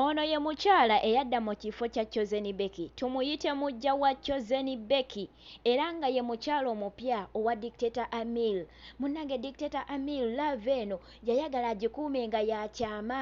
Ono ye mukyala eyadda mu kifo kya Chosen Becky tumuyite muggya wa Chosen Becky era nga ye mukyala omupya owa Dictator Amir. Munnange Dictator Amir love eno yayagala agikuume nga ya kyama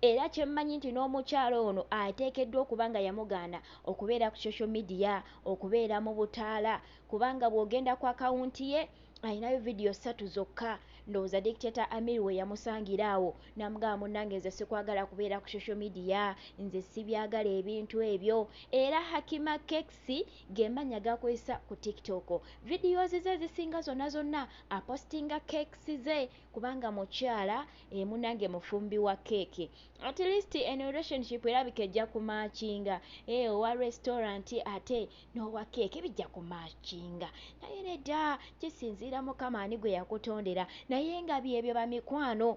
era kye mmanyi nti n'omukyala ono ateekeddwa okuba nga yamugaana okubeera ku social media, okubeera mu butaala kubanga bw'ogenda ku akawunti ye, alinayo vidiyo ssatu zokka ndowooza dictata amir we yamusangira awo namugamba munange nze sikwagala kubeera ku social media nze sibyagala ebintu ebyo era hakima kekisi gemanya gakozesa ku tiktok videos ze zisinga zonna zonna apostinga kekisi ze kubanga mukyala emunange eh, mufumbi wa keeke at least eno relationship erabika ejja kumakinga eh, owa restaurant ate n'owa keeke bijja kumakinga naye nedda kisinziira mukama ani gwe yakutondera naye nga byebyo bamikwano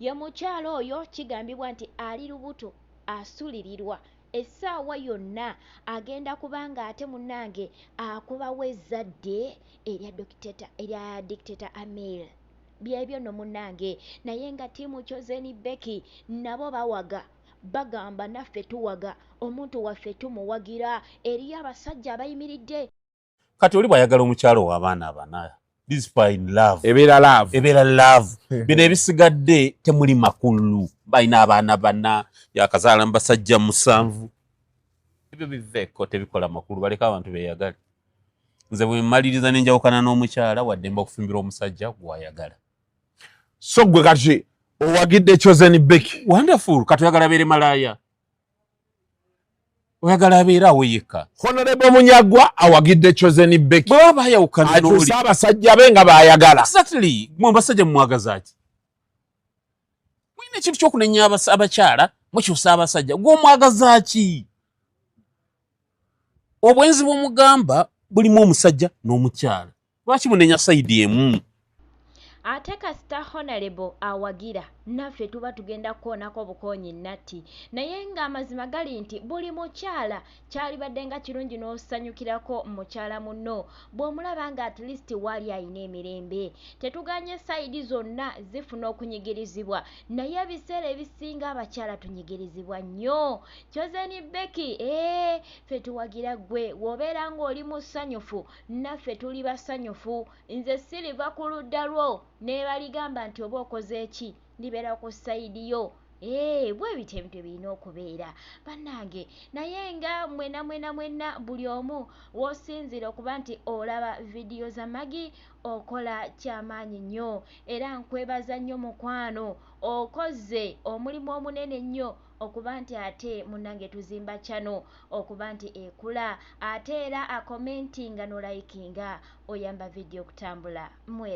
ye mukyalo oyo kigambibwa nti ali lubuto asulirirwa essaawa yonna agenda kubanga ate munange akubawo ezzadde erya dokiteta erya dictator amil byebyo no munange naye nga tiimu chozeni beki nabo bawaga bagamba naffe tuwaga omuntu waffe tumuwagira eriyo abasajja abayimiridde kati oli bwayagala omukyalo wabaana abana ebeera love bino ebisigadde temuli makulu balina abaana bana yakazaala mu basajja musanvu ebyo biveeko tebikola makulu baleka abantu beyagale nze bwemaliriza nenjawukana n'omukyala waddemba okufumbira omusajja gwayagala so gwe kati owagidde chosen beki wonderful kati oyagala abeere malaaya oyagala abeera awo yekka honorable munyagwa awagidde chosen beki bweba bayawukanatusa abasajja be nga bayagala exactly mwe abasajja mumwagazaki mulina ekintu kyokunenya abakyala mukyusa abasajja gwomwagazaki obwenzi bwomugamba bulimu omusajja n'omukyala lwaki munenya saidi emu ate kasita honalebo awagira naffe tuba tugenda kukoonako obukoonyi natti naye ng'amazima gali nti buli mukyala kyalibadde nga kirungi n'osanyukirako mukyala munno bw'omulaba nga at least waali alina emirembe tetuganye sayidi zonna zifuna okunyigirizibwa naye ebiseera ebisinga abakyala tunyigirizibwa nnyo kyozeni beki ee eh, fe tuwagira ggwe w'obeera ng'oli musanyufu Naffe tuli basanyufu. Nze siriva ku ludda lwo, n'ebaligamba nti oba okoze ki, ndibeera ku sayidi yo. Eee, bwe bityo ebintu bwe birina okubeera, bannange. Naye nga mwena mwena mwena buli omu w'osinziira okuba nti olaba vidiyo za Maggie, okola kya maanyi nnyo. Era nkwebaza nnyo mukwano, okoze omulimu omunene ennyo. okuba nti ate munange tuzimba channel okuba nti ekula ate era a commentinga no likinga oyamba video okutambula mwera.